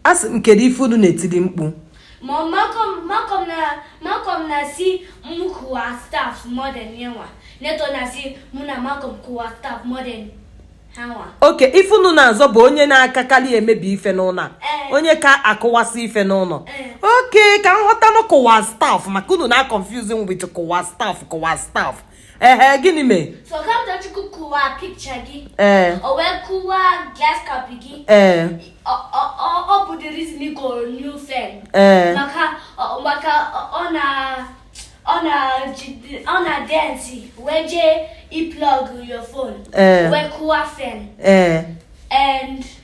a sị m kedu ife unu na-etili mkpu ma Malcolm Malcolm na Malcolm na-asị m kụwa stuff more than yanwa Neto na-asị mụ na Malcolm kụwa stuff more than hanwa okay ife unu na-azọ bụ onye na-akakalị emebi ife n'ụnọ a Ee. onye ka akụwasị ife n'ụnọ Ee. okay ka m ghọtanụ kụwa stuff maka unu na-aconfuse m with kụwa stuff kụwa stuff ehe gịnị mee So Kamtochukwu kụwa picture gị. ee O wee kụwa glass cup gị. ee Ọ- ọ- ọ- Ọ bụ the reason ị goro new fan. ee Maka ọ- maka ọ- ọ na ọ na jide- ọ na-adance wee jee iplug your phone. ee Wee kụwa fan. ee And